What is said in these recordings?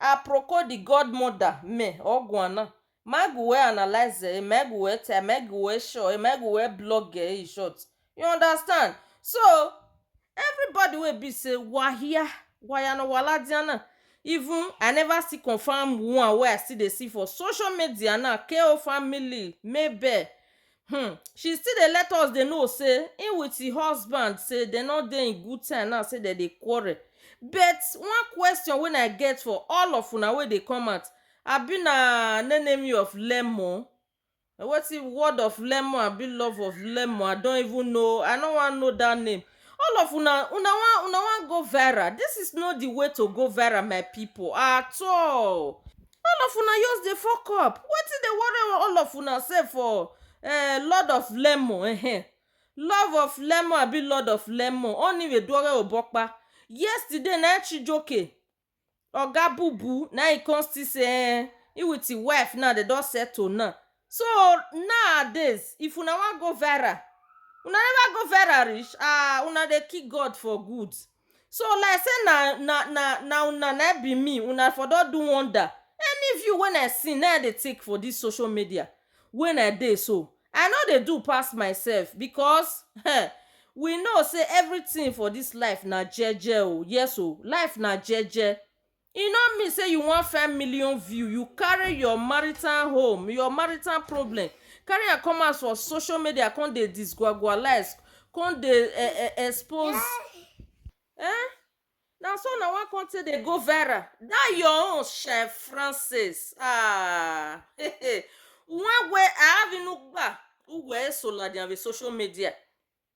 Aproko di godmother me ọguana, magu wẹ analyzer e magu wẹ tẹ magu wẹ sure e magu wẹ blogger e ishort you understand so everybody wey be say wa hia wa ya nọ wa la dia na even i never still confirm one wey i still dey see for social media na KO family, Mabel, Hmm. She still dey let us dey know say him with him husband say dem no dey in good time now say dem dey quarrel. But one question wey I get for all of una wey dey come out abi na nenemi of lemon na wetin word of lemon abi love of lemon I don't even know I no wan know that name all of una una wan una wan go viral this is not the way to go viral my people at all. all of una just dey fuck up wetin dey worry all of una sef for eh, lord of lemon eh, love of lemon abi lord of lemon oniweduore obokpa yesterday na chijoke oga bubu na he come still say eh, he with him wife now dem don settle now so nowadays if una wan go viral una never go viral reach ah una dey kill god for good So like say na na na na una na be me, una for don do wonder. Any view when I see na I dey take for this social media when I dey so. I no dey do pass myself because um we know say everything for this life na jeje o, yes o, life na jeje. E no mean say you wan find million view you carry your marital home your marital problem carry am come out for social media come dey disgwagwalaize come dey e e expose um na so una wan come take dey go viral dat your own shey francis um nwawe ahavinugba uweesoladiabe social media.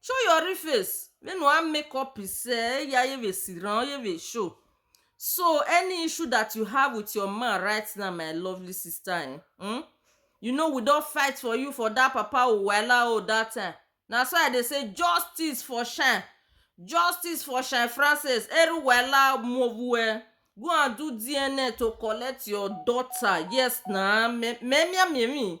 Show your real face. Make no add make up say ya ye be siran, ye be show. So any issue that you have with your man right now, my lovely sister, eh, hmm? you know we don fight for you for that papa o wahala o that time. Na so I dey say justice for shine. Justice for shine Francis. Eru wahala move eh. Go and do DNA to collect your daughter. Yes na. Me me me me.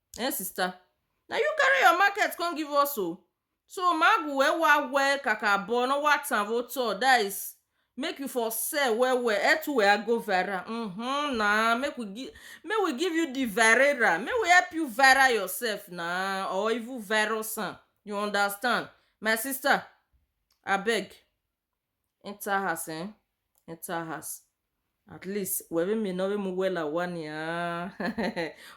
Eh sister, na you carry your market come give us o. So magu we wa we kaka bo no wa tan vo to that is make you for sell well well eh to we a go viral. Mm-hmm, na make we give make we give you the virera make we help you viral yourself na or even virus am you understand my sister abeg. enter house eh enter house at least were me no mu wela wani ah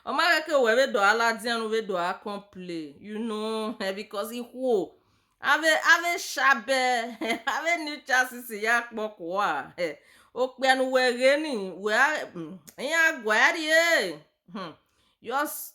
oma ke were do ala dian we do a complain you know eh, because he who ave ave shabe ave new chances ya kpoko a eh okpianu were ni we a ya gwari eh hmm just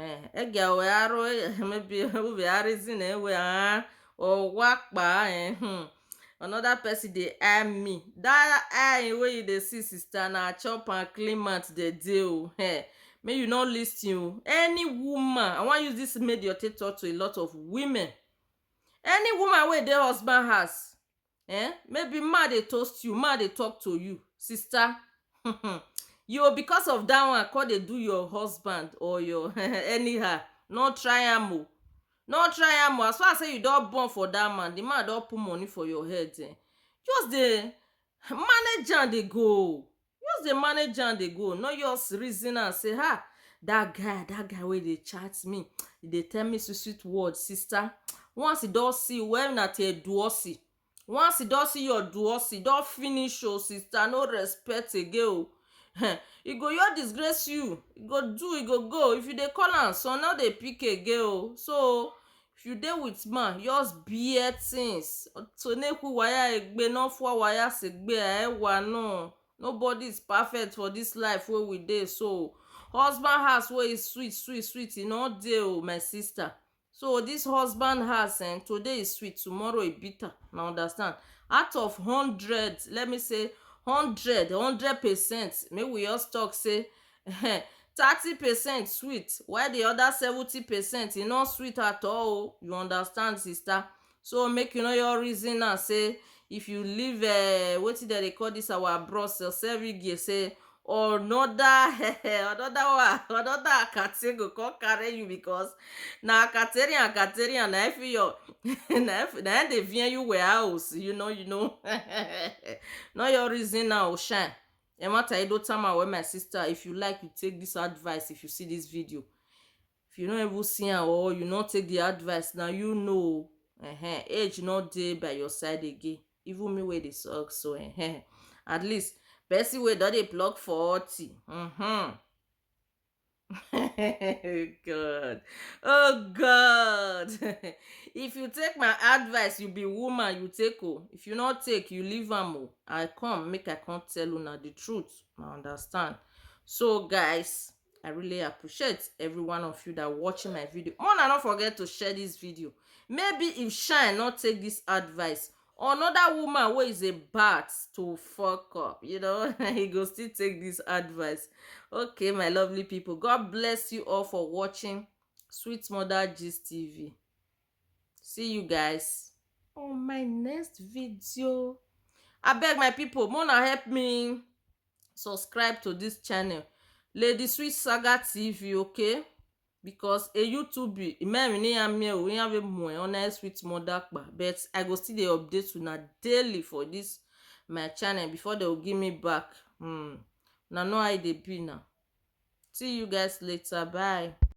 Eh, egia wẹ aro emebi uvwe a re zine we ha oghwa kpa eh hmm another person dey eye me that eye wey you dey see sister na chop and clean mouth dem dey o eh make you no listen o any woman i wan use this medium take talk to a lot of women any woman wey dey husband house um maybe man dey toast you, man dey talk to you, sister um you o because of dat one come dey do your husband or your um anyhow, no try am o, no try am o, as far as sey you don born for dat man, di man don put money for your head um just dey manage am dey go. Just dey manage am dey go no just reason am say ha that guy that guy wey dey chat me e dey tell me sweet sweet word sister once e don see you well na till eduosi once e don see your duosi e don finish o sister no respect again o um e go just disgrace you e go do e go go if you dey call am son no dey pick again o so If you dey with man just bear things Otoneku waya egbe no fwa waya segbe aewa no Nobody is perfect for this life wey we dey so Husband house wey e sweet sweet sweet e no dey o my sister So this husband house eh today e sweet tomorrow e bitter una understand Out of hundred let me say hundred hundred percent make we just talk say um thirty percent sweet while the other seventy percent e no sweet at all o you understand sister so make you no just reason am say if you leave um wetin dem dey call this our bros or cervige say another another one another akata go come carry you because na akateri akateri and na every your na every na im dey vex you warehouse you know you know no just reason am o shine. Emata Edo Tama wey my sister if you like you take this advice if you see this video if you no even see am or you no take the advice na you know o uh-huh. age no dey by your side again even me wey dey suck so uh-huh. at least person wey don dey plug forty uh-huh. God. Oh God. if you take my advice, you be woman, you take oh. If you not take, you leave am oh. I come, make I come tell una the truth. I understand. So guys, I really appreciate every one of you that watching my video. Mona, don't forget to share this video. Maybe if Shine not take this advice, another woman wey is about to fuck up you know he go still take this advice okay my lovely people god bless you all for watching sweet mother gist tv see you guys on my next video I beg my people mona help me subscribe to this channel lady sweet saga tv okay because a youtube imeri ni ya mi o ya ve mo e ona sweet mother pa but i go still dey update una daily for this my channel before they will give me back hmm na know how e dey be now see you guys later bye